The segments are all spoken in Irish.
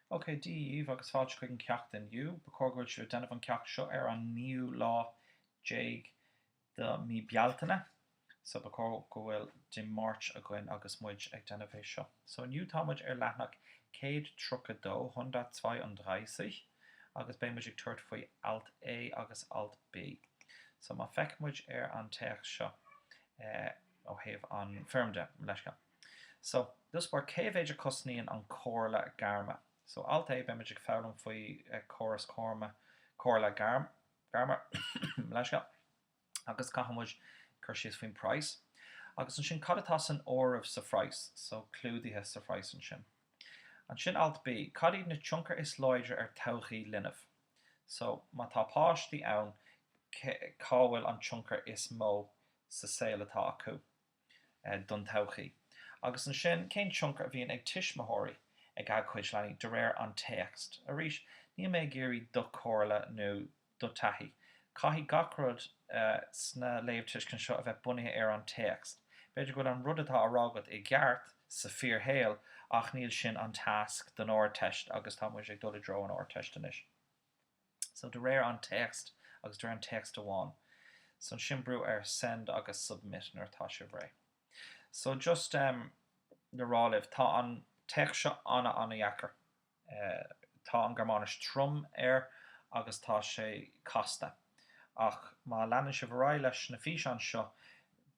OK, Dia daoibh agus fáilte chuig an ceacht inniu. Ba chóir go bhfuil sibh ag déanamh an ceacht seo ar an naoú lá déag de mí Bealtaine, so ba chóir go bhfuil Dé Máirt againn agus muid ag déanamh é seo. So inniu tá muid ar leathanach 132, hundertzweiunddreißig, agus beidh muid ag tabhairt faoi Alt A agus Alt B. So má fheiceann muid ar an téacs seo ó thaobh an foirm de, leithscéal. So, just for cé mhéid a cosnaíonn an comhairle gairme? So, alt A, beimid ag foghlaim faoi córas comhairle comhairle gairme, mo leithscéal, agus caithfidh muid cur síos faoin praghas. Agus ansin, cad atá san áireamh sa phraghas? So, clúdaithe sa phraghas ansin. Ansin, alt B, cad iad na tionchair is láidir ar todhchaí linbh? So, má tá páistí ann, cá bhfuil an tionchar is mó sa saol atá acu? don todhchaí. Agus ansin, cén tionchar a bhíonn ag tuismitheoirí ag a gcuid leanaí, de réir an téacs? Arís, níl mé ag iarraidh do chomhairle nó do thaithí. Caithfidh gach rud sna léamhtuiscint seo a bheith bunaithe ar an téacs. B'fhéidir go bhfuil an rud atá á rá agat i gceart sa fíorshaol, ach níl sin an tasc don Ardteist agus tá muid ag dul i dtreo an Ardteist anois. So de réir an téacs agus de réir an téacs amháin so ansin brú ar send agus submit nuair atá sibh réidh. So just em le rá libh tá an téacs seo ana ana dheacair. Eh tá an Gearmáinis trom air agus tá sé casta ach má leanann sibh ar aghaidh leis na físeáin seo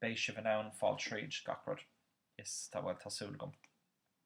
beidh sibh in ann fáil tríd gach rud is tá bhuel tá súil agam.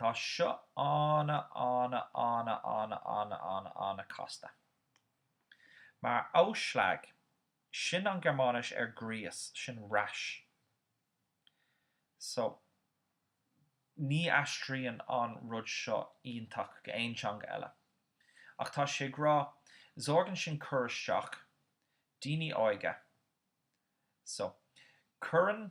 Tá seo ana ana ana ana ana ana ana casta. Mar Ausschlag, sin an Gearmáinis ar gríos, sin rash. So, ní aistríonn an rud seo iontach go aon teanga eile. Ach tá sé ag rá, sorgen sin cur isteach, daoine óige. So, cuireann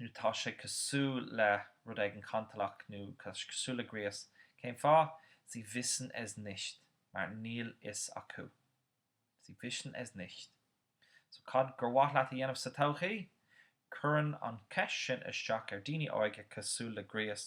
nó tá sé cosúil le rud éigin cantalach nó tá sé cosúil le gríos. Cén fáth? Sie wissen es nicht, mar níl fhios acu. Sie wissen es nicht. So, cad gur mhaith leat a dhéanamh sa todhchaí? Cuireann an cheist sin isteach ar daoine óige cosúil le gríos.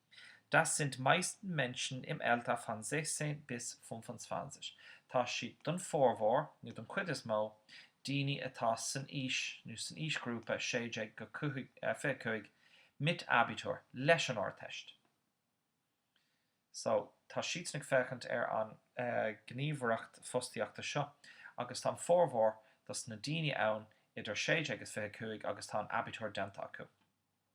Das sind meist Menschen im Alter von 16 bis 25. Tá siad, don formhór, nó don chuid is mó, daoine atá san aois, nó san aoisghrúpa 16-25, mit Abitur, leis an Ardteist. So, tá siadsan ag féachaint ar an ghníomhaireacht fostaíochta seo, agus tá an formhór dos na daoine ann idir 16 agus 25 agus tá an Abitur déanta acu.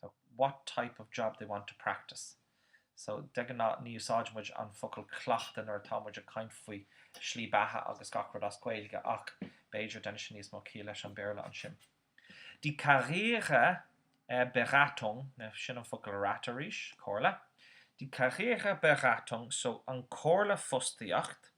so, what type of job they want to practice so de ghnáth ní úsáideann muid an focal cleachtadh nuair atá muid ag caint faoi slí beatha agus gach rud as Gaeilge ach b'fhéidir déanann sé níos mó ciall leis an Béarla ansin die Karriereberatung now sin an focal rat arís, comhairle, die Karriereberatung so an comhairle fostaíocht.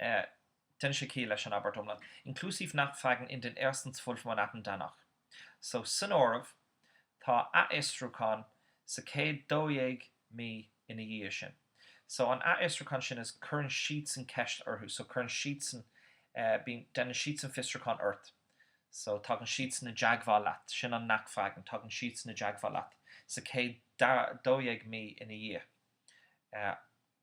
Deineann sé ciall leis an abairt iomlán, inklusive Nachfragen in den ersten zwölf Monaten danach. So, san áireamh, tá athfhiosrúchán sa chéad 12 mí ina dhiaidh sin. So, an athfhiosrúchán sin is cuireann siadsan ceist orthu. So, cuireann siadsan, bíonn, deineann siadsan fiosrúchán ort. So, tagann siadsan i dteagmháil leat. Sin an Nachfragen, tagann siadsan i dteagmháil leat sa chéad 12 mí ina dhiaidh.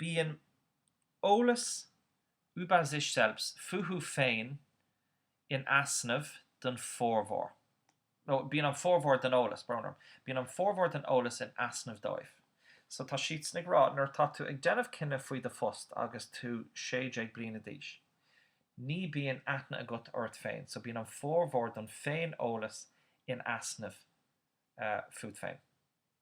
Bíonn eolas über sich selbst, fúthu féin, in easnamh don formhór, nó bíonn an formhór den eolas, brón orm, bíonn an formhór den eolas in easnamh dóibh. So tá siadsan ag rá nuair atá tú ag déanamh cinneadh faoi do phost agus tú sé déag bliana d'aois, ní bíonn aithne agat ort féin, so bíonn an formhór don féin-eolas in easnamh fút féin.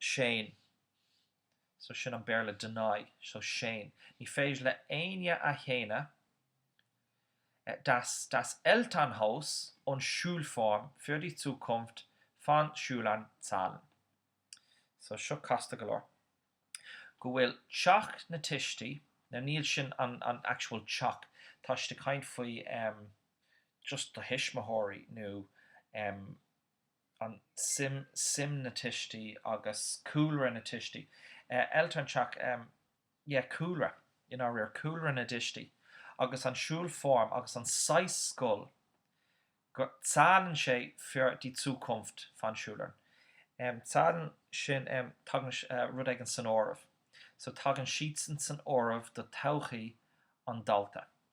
Séan, so sin an Béarla deny, so séan, ní féidir le éinne a shéanadh, dass das Elternhaus und Schulform, für die Zukunft, von Schülern zählen. So seo casta go leor, go bhfuil teach na tuistí, now níl sin an an actual teach, tá siad ag caint faoi em just do thuismitheoirí nó em an tsuim, suim na tuistí agus cúlra na tuistí. Eltern, teach, yeah, cúlra, i ndáiríre, cúlra na dtuistí agus an Schulform agus an saghas scoil go zählen sé für die Zukunft von Schülern. Zählen sin, tagann rud éigin san áireamh, so tagann siadsan san áireamh do todhchaí an dalta.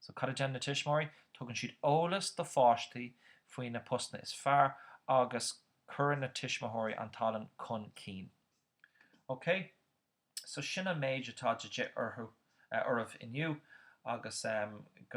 So cad a deineann na tuismitheoirí? Tugann siad eolas do pháistí faoi na postanna is fearr agus cuireann na tuismitheoirí an tallann chun cinn. Ok, so sin an méid atá de dhíth orthu, oraibh inniu agus go.